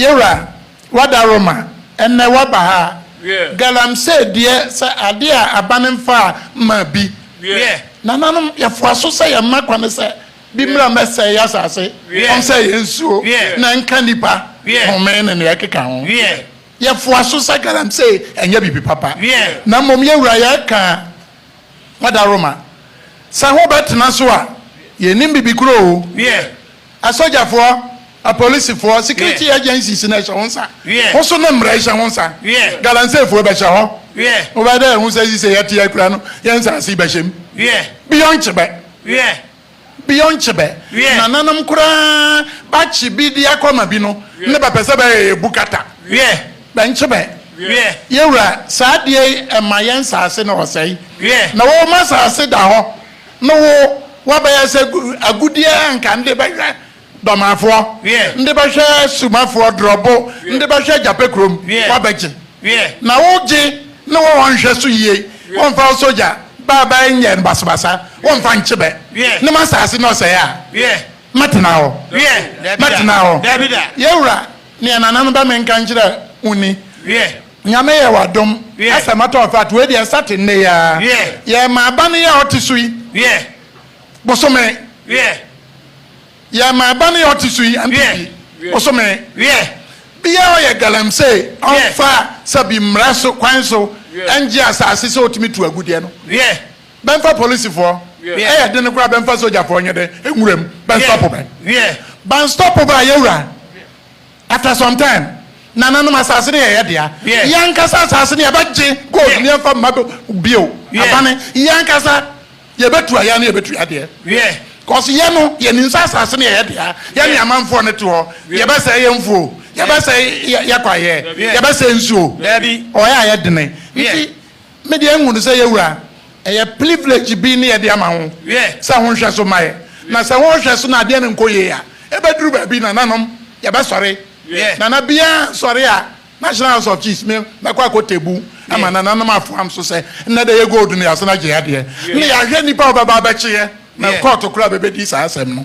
Yewura, wada Roma, ɛnnɛ waba ha. Galamsey deɛ sɛ adeɛ a aban mfaa mmaa bi. Nananom, yɛfoa so sɛ yɛmma kwane sɛ bi mmra mmɛsɛe yɛn asase, ɔnsɛe yɛn nsuo, na ɛnka nnipa home ne nea ɛkeka ho. Yɛfoa so sɛ galamsey ɛnyɛ biribi papa. Na mmom Yewura, yɛreka, wada Roma, sɛ ho bɛtena so a, yɛnnim biribi korɔ o. Asogyafoɔ, apolisifoɔ, security agencies na ɛhyɛ wo nsa. Wo so ne mmara hyɛ wo nsa. Galamseyfoɔ bɛhyɛ hɔ. Wobɛyɛ dɛ ɛho sɛ sisɛ yɛte yɛ kura no yɛ nsaase bɛhyɛ mu. Beyond Kyebɛ. Beyond Kyebɛ. Nananom koraa bakye bi de akɔ ama bi no ne bɛpɛ sɛ bɛyɛ yɛ bukata. Bɛ Nkyebɛ. Yɛwura, saa adeɛ yi ɛma yɛ nsaase no ɔsɛe. Na wo ma saase da hɔ. No wo wabɛyɛ sɛ agudeɛ a nka nde bɛhwɛ dɔmafoɔ nde bɛhwɛ sumafoɔ drɔbo nde bɛhwɛ gyapɛ kurom wabɛgye na wo gye ne wɔ wɔnhwɛ so yie wɔnfa wo sogya baa baa nyɛ no basabasa wɔnfa nkye bɛ ne ma saase ne ɔsɛe a mɛtena hɔ mɛtena hɔ yɛwura neɛ nana no bɛ menka nkyerɛ wo ni. Nyame yɛ wadom asɛ matɔ afat wei deɛ ɛsate nnɛ yi aa yɛ ma aba no yɛ ɔte so yi bosome yɛ ma aba no yɛ ɔte so yi npp bosome biaa ɔyɛ galamsey ɔnfa sɛbi mmra so kwan so ɛngye asase sɛ ɔtumi tu agudeɛ no bɛnfa polisifoɔ ɛyɛ dene koraa bɛnfa sogyafoɔ nyɛ dɛ nwura mu bɛnstɔpo bɛ banstɔpo bɛ ayɛwura. After some time, nananom asase no yɛ yɛn dea. Yɛn ankasa asase no yɛbɛgye gold no yɛmfa mma bio. Abane, yɛn ankasa yɛbɛtua yɛn ano yɛbɛtu yɛn adeɛ. Cause yɛn no yɛnim sɛ asase no yɛ yɛn dea. Yɛne amanfoɔ no te hɔ, yɛbɛsɛe yɛn mfuo, yɛbɛsɛe yɛn kwaeɛ, yɛbɛsɛe nsuo. Ɔyɛ a yɛdene. Nti. Me deɛ nhu no sɛ yɛwura ɛyɛ plivlege bi ne yɛde ama ho sɛ ho nhwɛ so mma yɛ na sɛ ho nhwɛ so na adeɛ no nkɔ yie a ɛbɛduru baabi nananom yɛbɛsɔre nana biaa nsɔre a National House of Chiefs me mɛkɔ akɔ tebu ama nananom afoam so sɛ nnɛ dɛ yɛ gold no yɛasan agye adeɛ ne yɛahwɛ nipa a ɔbɛba abɛkye yɛ na kɔɔto koraa bɛbɛdi saa asɛm no.